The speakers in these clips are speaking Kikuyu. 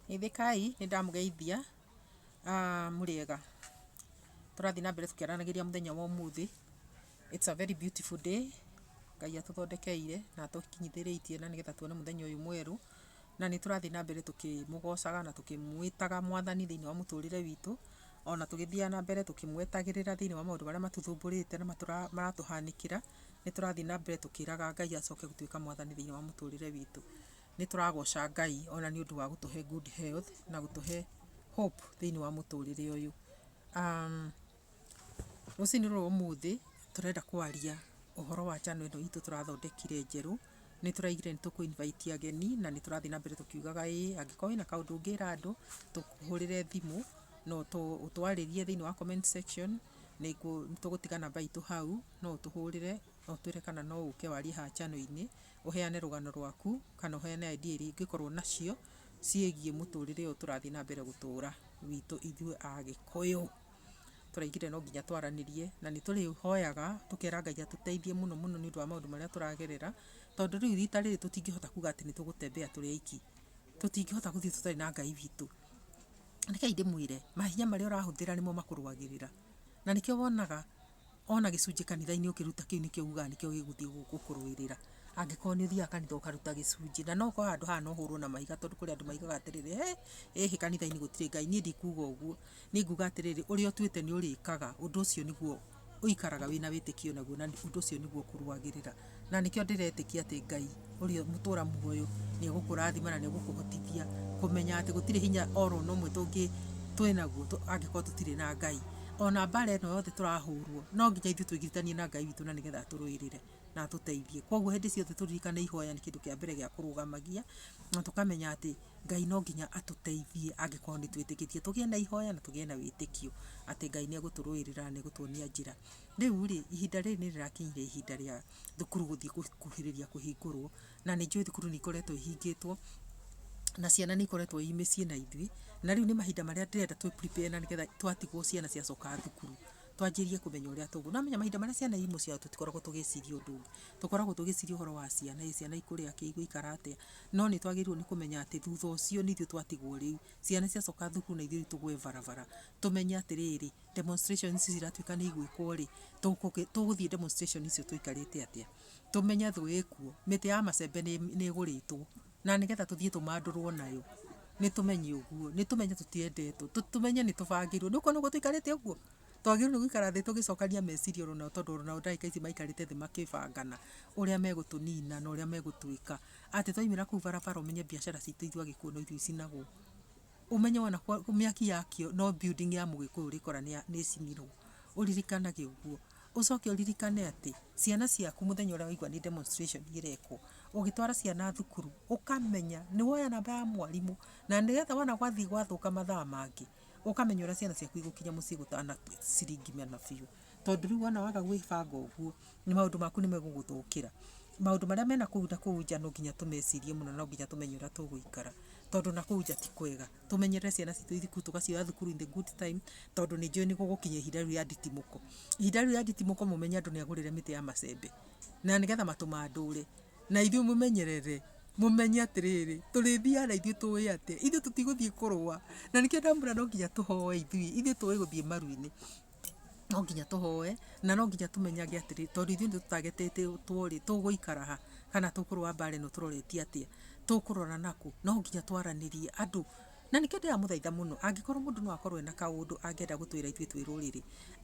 Geithĩkai, nĩ ndamũgeithia. Mũrĩega? Tũrathiĩ na mbere tũkĩaranagĩria mũthenya wa ũmũthĩ. It's a very beautiful day. Ngai atũthondekeire na atũkinyithĩrĩitie na nĩgetha tuone mũthenya ũyũ mwerũ. Na nĩ tũrathiĩ na mbere tũkĩmũgocaga na tũkĩmwĩtaga Mwathani thĩinĩ wa mũtũrĩre witũ. Ona tũgĩthiaga na mbere tũkĩmwetagĩrĩra thĩinĩ wa maũndũ marĩa matũthumbũrĩte na maratũhanĩkĩra. Nĩ tũrathiĩ na mbere tũkĩraga Ngai acoke gũtuĩka mwathani thĩinĩ wa mũtũrĩre witũ. Nĩ tũragoca Ngai ona nĩ ũndũ wa gũtũhe good health na gũtũhe hope thĩinĩ wa mũtũrĩre ũyũ. Rũcinĩ rũrũ ũmũthĩ tũrenda kwaria ũhoro wa channel ĩno itũ tũrathondekire njerũ. Nĩ tũraigire nĩ tũkũ invite ageni na nĩ tũrathiĩ na mbere tũkiugaga ĩĩ angĩkorwo wĩna kaũndũ ũngĩra andũ tũkũhũrĩre thimũ na ũtwarĩrie thĩinĩ wa comment section nĩ tũgũtiga namba itũ hau. No ũtũhũrĩre na ũtwĩre kana no ũke warie haha channel-inĩ, ũheane rũgano rwaku, kana ũheane idea iria ingĩkorwo nacio ciĩgiĩ mũtũrĩre ũyũ tũrathiĩ na mbere gũtũra witũ ithuĩ Agĩkũyũ. Tũraigire no nginya twaranĩrie na nĩ tũrĩhoyaga tũkera Ngai atũteithie mũno mũno nĩ ũndũ wa maũndũ marĩa tũragerera, tondũ rĩu rita rĩrĩ tũtingĩhota kuga atĩ nĩ tũgũtembea tũrĩ aiki. Tũtingĩhota gũthiĩ tũtarĩ na Ngai witũ. Rekei ndĩmwĩre, mahinya marĩa ũrahũthĩra nĩmo makũrũagĩrĩra. Na nĩkĩo wonaga... Ona gĩcunjĩ kanitha-inĩ ũkĩruta kĩu nĩkĩo ugaga nĩkĩo gĩgũthiĩ gũkũrũĩrĩra. Angĩkorwo nĩ ũthiaga kanitha ũkaruta gĩcunjĩ, na no ũkorwo handũ haha no ũhũrwo na mahiga tondũ kũrĩ andũ maugaga atĩrĩrĩ, hĩ, ĩhĩ kanitha-inĩ gũtirĩ Ngai. Niĩ ndikuga ũguo. Niĩ nguga atĩrĩrĩ, ũrĩa ũtuĩte nĩ ũrĩkaga, ũndũ ũcio nĩguo ũikaraga wĩna wĩtĩkio naguo na ũndũ ũcio nĩguo ũkũrũagĩrĩra. Na nĩkĩo ndĩretĩkia atĩ Ngai ũrĩa mũtũra muoyo nĩ egũkũrathima na nĩ egũkũhotithia kũmenya atĩ gũtirĩ hinya oro na ũmwe tũngĩ twĩnaguo angĩkorwo tũtirĩ na Ngai. Ona mbara ĩno yothe tũrahũrwo no nginya ithuĩ twĩgiritanie na Ngai witũ na nĩgetha atũrũĩrĩre na atũteithie. Koguo hĩndĩ ciothe tũririkane ihoya nĩ kĩndũ kĩa mbere gĩa kũrũgamagia na tũkamenya atĩ Ngai no nginya atũteithie angĩkorwo nĩ twĩtĩkĩtie. Tũgĩe na ihoya na tũgĩe na wĩtĩkio atĩ Ngai nĩ egũtũrũĩrĩra na nĩ egũtuonia njĩra. Rĩu-rĩ, ihinda rĩrĩ nĩ rĩrakinyire ihinda rĩa thukuru gũthiĩ gũkuhĩrĩria kũhingũrwo, na nĩ njũĩ thukuru nĩ ikoretwo ihingĩtwo, na ciana nĩ ikoretwo i mĩciĩ na ithuĩ, na rĩu nĩ mahinda marĩa ndĩrenda twĩ prepare na nĩgetha twatigwo ciana ciacoka thukuru, twanjĩrĩrie kũmenya ũrĩa tũgũ. Nĩ wamenya mahinda marĩa ciana i mũciĩ wao tũtikoragwo tũgĩciria ũndũ ũngĩ. Tũkoragwo tũgĩciria ũhoro wa ciana, ĩ ciana ikũrĩa kĩ, igũikara atĩa, no nĩ twagĩrĩirwo nĩ kũmenya atĩ thutha ũcio nĩ ithuĩ twatigwo rĩu. Ciana ciacoka thukuru na ithuĩ rĩu tũgwe barabara. Tũmenye atĩrĩrĩ, demonstrations ici ciratuĩka nĩ igwĩkwo rĩ, tũkũ- tũgũthiĩ demonstration icio tũikarĩte atĩa tũmenye thũ ĩkuo mĩtĩ ya macembe nĩ nĩ ĩgũrĩtwo na nĩgetha tũthiĩ tũmandũrwo nayo nĩ tũmenye ũguo nĩ tũmenye tũtiendetwo tũ- tũmenye nĩ tũbangĩirwo nĩ ũkuona ũguo tũikarĩte ũguo twagĩrĩirwo nĩ gũikara thĩ tũgĩcokania meciria oro nao tondũ oro nao ndagĩka ici maikarĩte thĩ makĩbangana ũrĩa megũtũnina na ũrĩa megũtwĩka atĩ twaumĩra kũu barabara ũmenye biacara citũ ithuĩ agĩkũyũ no ithuĩ icinagwo. Ũmenye wona mĩaki yakio no building ya mũgĩkũyũ ũrĩkora nĩcinirwo, ũririkanage ũguo. Ũcoke ũririkane atĩ ciana ciaku mũthenya ũrĩa waigua nĩ demonstration ĩrekwo, ũgĩtwara ciana thukuru, ũkamenya nĩwoya namba ya mwarimũ, na nĩgetha wona gwathiĩ gwathũka mathaa mangĩ, ũkamenya ũrĩa ciana ciaku igũkinya mũciĩ gũtana ciringi mana biũ. Tondũ rĩu wona waga gwĩbanga ũguo, maũndũ maku nĩ megũgũthũkĩra. Maũndũ marĩa me na kũu na kũu nja no nginya tũmecirie mũno na no nginya tũmenye ũrĩa tũgũikara. Tondũ na kũu nja ti kwega. Tũmenyerere ciana citũ ithiĩ kũu tũgacioya thukuru in the good time, tondũ nĩ njũĩ nĩ gũgũkinya ihinda rĩu rĩa nditimũko. Ihinda rĩu rĩa nditimũko mũmenye andũ nĩ agũrĩre mĩtĩ ya macembe. Na nĩgetha matũ mandũre. Na ithuĩ mũmenyerere, mũmenye atĩrĩrĩ, tũrĩthiaga na ithuĩ tũĩ atĩ, ithuĩ tũtigũthiĩ kũrũa. Na nĩkĩo ndamwĩra no nginya tũhoe ithuĩ. Ithuĩ tũĩ gũthiĩ maru-inĩ. no nginya tũhoe, na no nginya tũmenyage atĩrĩ, tondũ ithuĩ nĩ tũtagetetwo rĩ, tũgũikara ha, kana tũkũrũa mbara ĩno tũroretie atĩa, tũkũrora na kũ, no nginya twaranĩrie andũ, na nĩkĩo ndĩramũthaitha mũno, angĩkorwo mũndũ no akorwo ena kaũndũ angĩenda gũtwĩra ithuĩ twĩ rũrĩrĩ,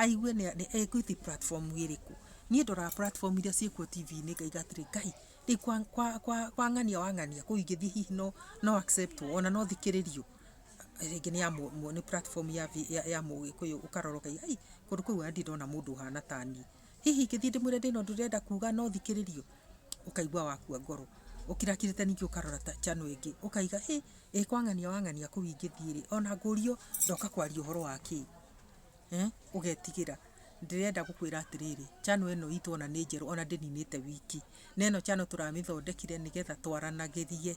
aigue nĩ nĩ egũthi platform ĩrĩkũ, niĩ ndoraga platform iria ciĩkuo tibi-inĩ ngaiga atĩrĩ, Ngai, rĩu kwa kwa kwa ng'ania wa ng'ania kũu ingĩthiĩ hihi no no accept wo, ona no thikĩrĩrio. rĩngĩ nĩ ya mũ, nĩ platform ya, vi- ya, ya mũgĩkũyũ ũkarora ũkaiga ai kũndũ kũu andi ndona mũndũ ũhana ta niĩ hihi ingĩthiĩ ndĩmwĩre ndĩna ũndũ ndĩrenda kuga no thikĩrĩrio ũkaigua wakua ngoro ũkirakirĩte ningĩ ũkarora ta channel ĩngĩ ũkaiga ĩ ĩ kwang'ania wang'ania kũu ingĩthiĩ rĩ ona ngũrio ndoka kwaria ũhoro wa kĩĩ Eh, ũgetigĩra ndĩrenda gũkwĩra atĩrĩrĩ chano ĩno itũ ona nĩ njerũ ona ndĩninĩte wiki na ĩno chano tũramĩthondekire nĩgetha twaranagĩrie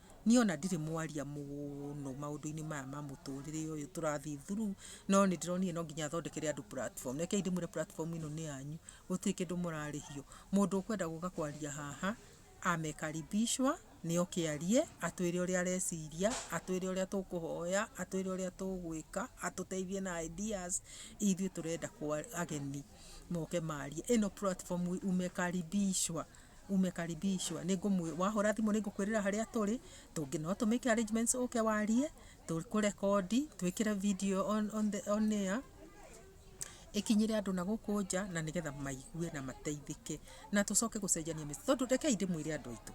Niĩ ona ndirĩ mwaria mũno maũndũ-inĩ maya ma mũtũrĩre ũyũ tũrathiĩ through, no nĩ ndĩronire no nginya thondekere andũ platform. Rekei ndĩmwĩre platform ĩno nĩ yanyu, gũtirĩ kĩndũ mũrarĩhio. Mũndũ ũkwenda gũka kwaria haha, amekaribishwa, nĩ oke arie, atwĩre ũrĩa areciria, atwĩre ũrĩa tũkũhoya, atwĩre ũrĩa tũgwĩka, atũteithie na ideas, ithuĩ tũrenda ageni moke marie. Ĩno platform umekaribishwa. umekaribishwa ningumwe wahura thimu ningukwirira haria turi tungi no to make arrangements uke warie tukurekondi twikire video on, on, the, on air ikinyire andu na guku nja na nigetha maigue na mateithike na tucoke gucenjania mĩciĩ tondu rekei ndĩmwĩre andũ aitũ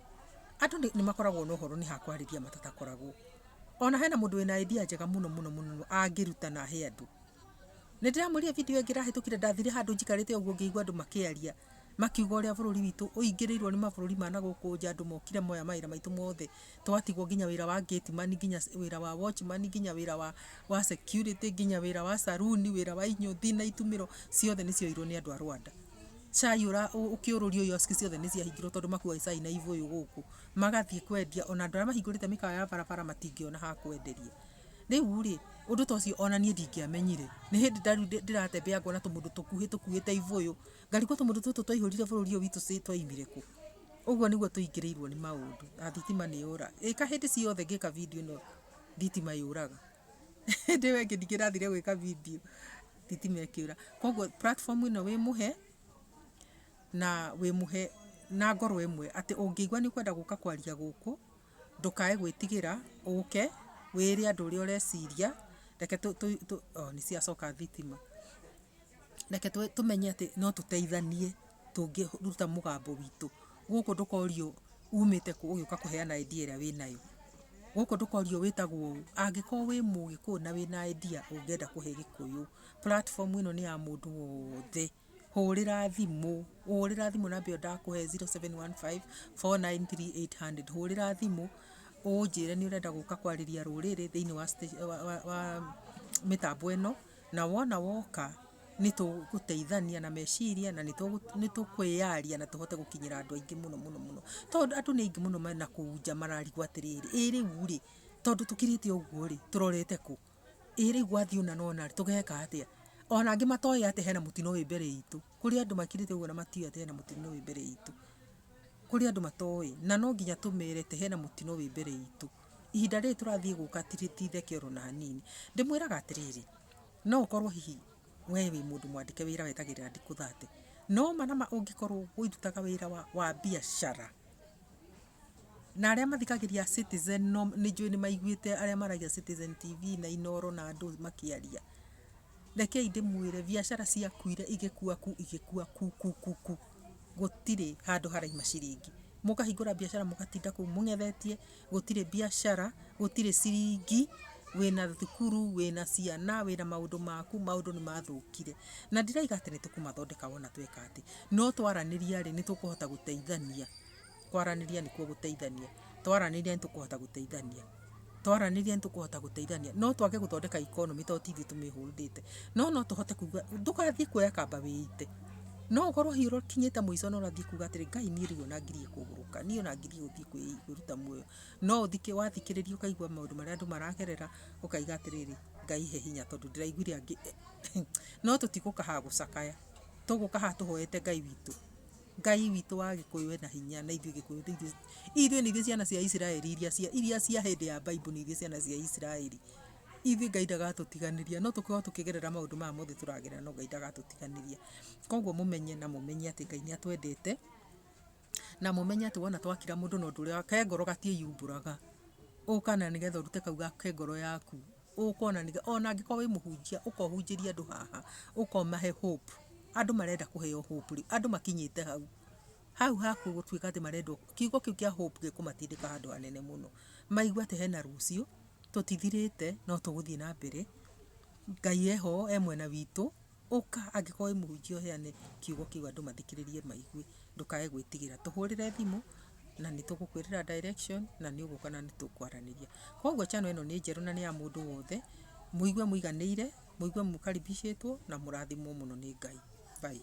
andũ nĩ- nĩ makoragwo na ũhoro nĩ ha kwarĩria matatakoragwo ona hena mũndũ wĩna idea njega mũno mũno mũno mũno angĩruta na he andũ nä ndä ramwä video ä ngä rahä tå kire ndathire handå njikarä te å guo ngä igua andå makä aria Makiuga ũrĩa bũrũri witũ ũingĩrĩirwo nĩ mabũrũri ma na gũkũ nja andũ mokire moya mawĩra maitũ mothe. Twatigwo nginya wĩra wa gate man, nginya wĩra wa watchman, nginya wĩra wa security, nginya wĩra wa saloon, wĩra wa inyuthi na itumĩro ciothe nĩ cioirwo nĩ andũ a Rwanda. Cai ũkĩũrũrio irio ciothe nĩ ciahingirwo tondũ makuaga cai na ibũyũ gũkũ. Magathiĩ kwendia ona andũ arĩa mahingũrĩte mĩkawa ya barabara matingĩona ha kwenderia. Rĩu rĩ, ũndũ ta ũcio ona niĩ ndingĩamenyire. Nĩ hĩndĩ ndĩratembea ngona tũmũndũ tũkuhĩ tũkuĩte ibũyũ. Ngarigwo tũmũndũ tũtũ twaihũrire bũrũri ũyũ witũ cĩ twaimire kũ? Ũguo nĩguo tũingĩrĩirwo nĩ maũndũ na thitima nĩ yũra. Ĩka hĩndĩ ciothe ngĩka video ĩno thitima yũraga. Hĩndĩ ĩyo ĩngĩ ndingĩrathire gwĩka video thitima ĩkĩũra. Koguo platform ĩno wĩ mũhe na wĩ mũhe na ngoro ĩmwe atĩ ũngĩigua nĩ ũkwenda gũka kwaria gũkũ ndũkae gwĩtigĩra ũke wĩre andũ ũrĩa ũreciria reke tũ, tũ, tũ, oh, nĩ ciacoka thitima. reke tũmenye atĩ no tũteithanie tũngĩruta mũgambo witũ. Gũkũ ndũkorio umĩte kũ ũgĩũka kũheana idea ĩrĩa wĩnayo. Gũkũ ndũkorio wĩtagwo ũũ, angĩkorwo wĩ mũgĩkũyũ na wĩna idea ũngĩenda kũhe gĩkũyũ, platform ĩno nĩ ya mũndũ wothe. Hũrĩra thimũ, hũrĩra thimũ namba ĩyo ndakũhe zero seven one five four nine three eight hundred. Hũrĩra thimũ ũnjĩre nĩ ũrenda gũka kwarĩria rũrĩrĩ thĩiniĩ wa mĩtambo ĩno. Na wona woka nĩ tũgũteithania na meciria na nĩ tũkwĩyaria na tũhote gũkinyĩra andũ aingĩ mũno mũno mũno. Tondũ andũ nĩ aingĩ mũno me na kũu nja mararigwo atĩrĩrĩ, ĩ rĩu rĩ, tondũ tũkirĩte ũguo rĩ, tũrorete kũ? Ĩ rĩu gwathiĩ ũna na ũna rĩ, tũgeka atĩa? Ona angĩ matoĩ atĩ hena mũtino wĩ mbere itũ. Kũrĩ andũ makirĩte ũguo na matiũĩ atĩ hena mũtino wĩ mbere itũ. Kũrĩ andũ matoĩ. Na no nginya tũmere atĩ hena mũtino wĩ mbere itũ. ihinda rĩrĩ tũrathiĩ gũka titheke oro na hanini ndĩmwĩraga atĩrĩrĩ no ũkorwo hihi we wĩ mũndũ mwandĩke wĩra wetagĩrĩra ndikũ thate no ma na ma ũngĩkorwo ũirutaga wĩra wa, wa biacara na arĩa mathikagĩria citizen no nĩ njũĩ nĩ maiguĩte arĩa maragia citizen tv na inoro na andũ makĩaria rekei ndĩmwĩre biacara ciakuire igĩkua ku igĩkua ku ku ku ku gũtirĩ handũ haraima ciringi. Mũkahingũra mbiacara mũgatinda kũu mũng'ethetie, gũtirĩ mbiacara, gũtirĩ ciringi, wĩna thukuru, wĩna ciana, wĩna maũndũ maku, maũndũ nĩ mathũkire. Na ndirauga atĩ nĩ tũkũmathondeka wona tweka atĩ. No twaranĩria rĩ, nĩ tũkũhota gũteithania. Kwaranĩria nĩkuo gũteithania. Twaranĩria nĩtũkũhota gũteithania. Twaranĩria nĩtũkũhota gũteithania. No twage gũthondeka economy tondũ ti ithuĩ tũmĩhũldĩte. No no tũhote kuga, ndũgathiĩ kuoya kamba wĩite. No ũkorwo hihi ũkinyĩte mũico na ũrathiĩ kuga atĩrĩ, Ngai niĩ rĩu ona ngirie kũgũrũka. Niĩ ona ngirie gũthiĩ kwĩ- kwĩruta muoyo. No ũthikĩ- wathikĩrĩria ũkaigua maũndũ marĩa andũ maragerera, ũkaiga atĩrĩrĩ, Ngai he hinya tondũ ndĩraiguire angĩ. No tũtigũka haha gũcakaya. Tũgũka haha tũhoete Ngai witũ. Ngai witũ wa Gĩkũyũ ena hinya na ithuĩ Gĩkũyũ nĩ ithuĩ ithuĩ nĩ ithuĩ ciana cia Isiraeli iria cia iria cia hĩndĩ ya Bible nĩ ithuĩ ciana cia Isiraeli ithuĩ Ngai ndagatũtiganĩria no tũkorwo tũkĩgerera maũndũ maya mothe tũragerera no Ngai ndagatũtiganĩria koguo mũmenye na mũmenye atĩ Ngai nĩ atwendete na mũmenye atĩ wona twakira mũndũ na ũndũ ũrĩa ke ngoro gatiĩyumbũraga ũka na nĩgetha ũrute kau ga ke ngoro yaku ũkona nĩ ona angĩkorwo wĩ mũhunjia ũkohunjĩria andũ haha ũkomahe hope andũ marenda kũheo hope rĩu andũ makinyĩte hau hau haku gũtuĩka atĩ marendwo kiugo kĩu kĩa hope gĩkũmatindĩka handũ hanene mũno maigua atĩ hena rũciũ tũtithirĩte no tũgũthiĩ na mbere ngai eho e mwena witũ Ũka angĩkorwo wĩ mũhunjia ũheane kiugo kĩu andũ mathikĩrĩrie maigue, ndũkae gwĩtigĩra. Tũhũrĩre thimũ na nĩ tũgũkwĩrĩra direction na nĩ ũgũka na nĩ tũkwaranĩria. Kwoguo channel ĩno nĩ njerũ na nĩ ya mũndũ wothe, mũigue mũiganĩire, mũigue mũkaribicĩtwo na mũrathimwo mũno nĩ Ngai. Bye.